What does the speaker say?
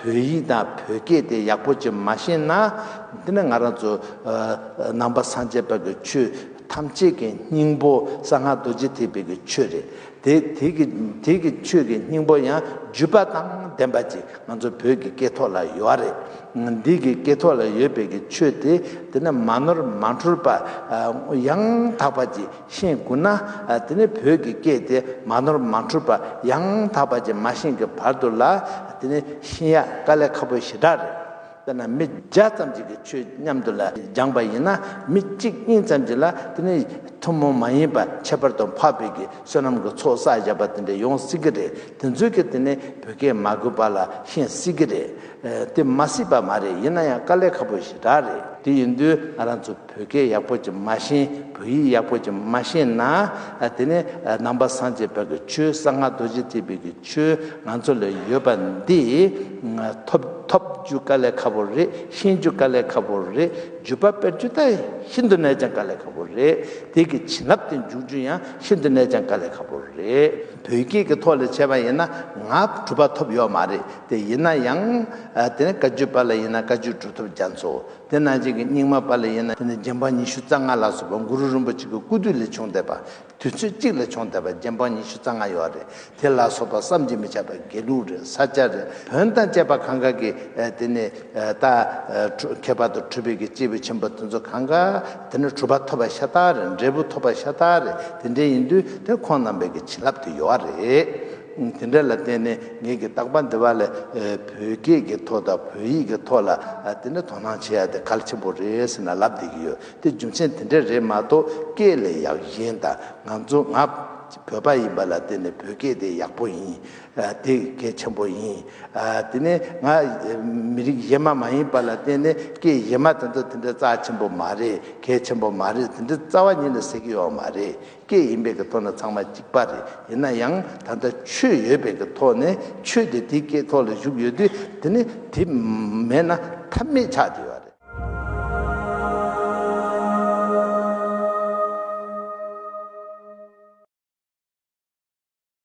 བོད་ཡིག་དང་བོད་སྐད་དེ་ཡག་པོ་ཅིག་མ་ཤེས་ན། འདི་ནི་ང་རང་ཚོ་ནང་པ་སངས་རྒྱས་བར་གྱི་ཆོས་ཐམས་ཅད་ཀྱི་སྙིང་པོ་གསང་སྔགས་རྡོ་རྗེ་ཐེག་པའི་ཆོས་རེད། དེ་དེའི་གི་ཆོས་ཀྱི་སྙིང་པོ་ཡང་བརྒྱུད་པ་དང་ལྡན་པ་ཅིག་ང་ཚོ་བོད་ཀྱི་སྐད་ཐོག་ལ་ཡོད་ར་རེད། འདི་གི་སྐད་ཐོག་ལ་ཡོད་པའི་གི་ཆོས་དེ་དེ་ནི་མ་ནོར་མ་འཁྲུལ་པ་ཡང་དག་པ་ཅིག་ཤེས་དགོས་ན་དེ་ནི་བོད་ཀྱི་སྐད་དེ་མ་ནོར་མ་འཁྲུལ་པ་ཡང་དག་པ་ཅིག་མ་ཤེས་གི་བར་དུ་ལ་དེ་ནི་ཤེས་ཡག་དཀའ་ལས་ཁ་པོ་ཞེ་དྲག་རེད། དཔེར་ན་མི་བརྒྱ་ཙམ་གཅིག་གིས་ཆོས་མཉམ་དུ་ལ་སྦྱངས་པ་ཡིན་ན་མི་གཅིག་གཉིས་ཙམ་གྱིས་ལ་དེ་ནི་ཐུན་མོང་མ་ཡིན་པར་ཁྱད་པར་དུ་འཕགས་བོད་ཀྱི་བསོད་ནམས་ཀྱི་ཚོགས་བསགས་བཞག་པ་དེ་འདྲ་ཡོང་སྲིད་ཀྱི་རེད་དེ་མཛོད་ཀྱི་དེ་ནི་བོད་སྐད་མ་གོ་བ་ལ་ཤེས་སྲིད་ཀྱི་རེད་དེ་མ་སྲིད་པ་མ་རེད་ཡིན་ན་ཡང་དཀའ་ལས་ཁ་པོ་ཞིག་རག་རེད་དེ་ཡིན་དུས་ང་རང་ཚོ། བོད་སྐད་ཡག་པོ་གྱིས་མ་ཤེས་བོད་ཡིག་ཡག་པོ་གྱིས་མ་ཤེས་ན། དེ་ནི་ནང་པ་སངས་རྒྱས་བོད་ཀྱི་ཆོས་གསང་སྔགས་རྡོ་རྗེ་ཐེག་པའི་གྱི་ཆོས་ང་ཚོ་ལ་ཡོད་པ་འདི། ཐོབ་ཐོབ་རྒྱུ་དཀའ་ལས་ཁ་པོ་རེད་ཤེས་རྒྱུ་དཀའ་ལས་ཁ་པོ་རེད་བརྒྱུད་པ་སྤེལ་རྒྱུ་ད་ཤིན་ཏུ་ནས་ཀྱང་དཀའ་ལས་ཁ་པོ་རེད་དེ་གི་བྱིན་རླབས་དེ་འཇུག་རྒྱུ་ཡང་ཤིན་ཏུ་ནས་ཀྱང་དཀའ་ལས་ཁ་པོ་རེད། བོད་སྐད་ཀྱི་ཐོག་ལས་བྱས་པ་ཡིན་ན་ང་གྲུབ་པ་ཐོབ་ཡོད་མ་རེད་དེ་ཡིན་ན་ཡང། དེ་ནི་བཀའ་བརྒྱུད་པ་ལ་ཡིན་ན་བཀའ་བརྒྱུད་གྲུབ་ཐོབ་རྒྱ་མཚོ། དེ་རྣམས་གཅིག་གི་སྙིགས་མ་པ་ལ་ཡིན་ན་དེ་ནི་རྗེ་འབངས་ཉི་ཤུ་རྩ་ལྔ་ལ་སོགས་པ་གུ་རུ་རིན་པོ་ཆེ་གི་སྐུ་དུས་ལས་བྱུང་བསྡད་པ། དུས་ཚོད་གཅིག་ལ་བྱུང་བསྡད་པ་རྗེ་འབངས་ཉི་ཤུ་རྩ་ལྔ་ཡོད་རེད་དེ་ལ་སོགས་པ་བསམ་གྱིས་མི་ཁྱབ་པ་དགེ་ལུགས་རེད་ས་སྐྱ་རེད་བོན་དང་བཅས་པ་གང་གཱ་གི་དེ་ནི་རྟ། ཁྱད་པར་དུ་གྲུབ་པའི་གི་སྐྱེས་བུ་ཆེན་པོ་དེ་ཚོ་གང་གཱ་དེ་ནི་གྲུབ་པ་ཐོབ་པ་ཤ་སྟག་རེད་འབྲས་བུ་ཐོབ་པ་ཤ་སྟག་རེད་དེ་འདྲའི་ཡིན་དུས་དེ་ཁོང་རྣམ་པའི་གི་བྱིན་རླབས་དེ་ཡོད་རེད། དེ་འདྲ་ལ་བརྟེན་ནས་ངེད་ཀྱིས་རྟག་པ་འདི་བར་ལས་བོད་སྐད་ཀྱི་ཐོག་དང་བོད་ཡིག་གི་ཐོག་ལ་དེ་འདྲ་དོ་སྣང་བྱེད་ཡ་དེ་གལ་ཆེན་པོ་རེད་ཟེར་ན་ལབ་བསྡད་ཀྱི་ཡོད་དེ་རྒྱུ་མཚན་དེ་འདྲ་རེད་མ་གཏོགས་སྐད་ལས་ཡག་གཞན་དང་ང་ཚོ་ང་བོད་པ་ཡིན་པ་ལ་བརྟེན་ནས་བོད་སྐད་དེ་ཡག་པོ་ཡིན་དེ་གལ་ཆེན་པོ་ཡིན་དེ་ནས་ང་མི་རིགས་གཞན་མ་མ་ཡིན་པ་ལ་བརྟེན་ནས་སྐད་གཞན་མ་དེ་ཚོ་དེ་འདྲ་རྩ་ཆེན་པོ་མ་རེད་གལ་ཆེན་པོ་མ་རེད་དེ་འདྲ་རྩ་བ་ཉིད་ལ་ཟེར་གྱི་ཡོད་མ་རེད་སྐད་ཡིན་པའི་གི་ཐོག་ནས་ཚང་མ་གཅིག་པ་རེད་ཡིན་ན་ཡང་ད་ལྟ་ཆོས་ཡོད་པའི་གི་ཐོག་ནས་ཆོས་དེ་དེའི་སྐད་ཐོག་ལ་བཞུགས་ཡོད་དུས་དེ་ནི་དེ་མེད་ན་ཐབས་མེད་ཆགས་ཀྱི་ཡོད་རེད།